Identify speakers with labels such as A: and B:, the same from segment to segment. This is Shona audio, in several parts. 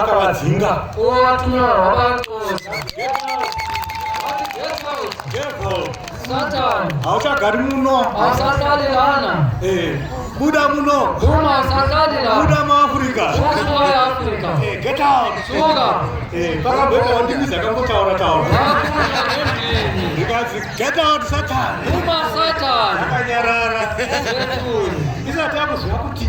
A: akavadzinga hauchagari muno eh, buda muno buda muafrica pakabweka wandimizi akambotaura taura ndikazi get out satan akanyarara isati akuziva kuti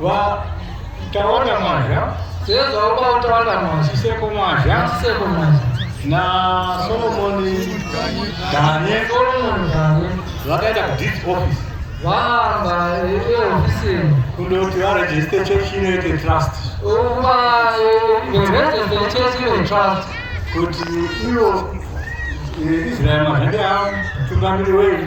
A: Va Tawanda Mwazha. Sezwa uba utawanda Mwazha. Siseko Mwazha. Siseko Mwazha. Na Solomon Danye. Solomon Danye. Vakaenda ku this office. Vahamba iyo office. Kundoti va register church inoite trust. Uba register church inoite trust. Kuti iyo Israel Mwazha ndiye mutungamiri wenyu.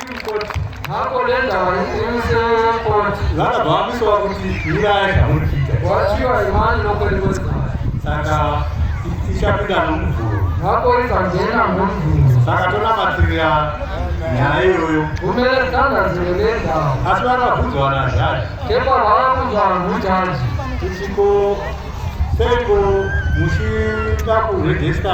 A: vanobvamiswa kuti nyaya zvauri kuita saka ichapinda nomuvhuro saka tonamatirira nyaya iyoyo asi vanobvunzwa nazhari ichiko seiko muchida kurejista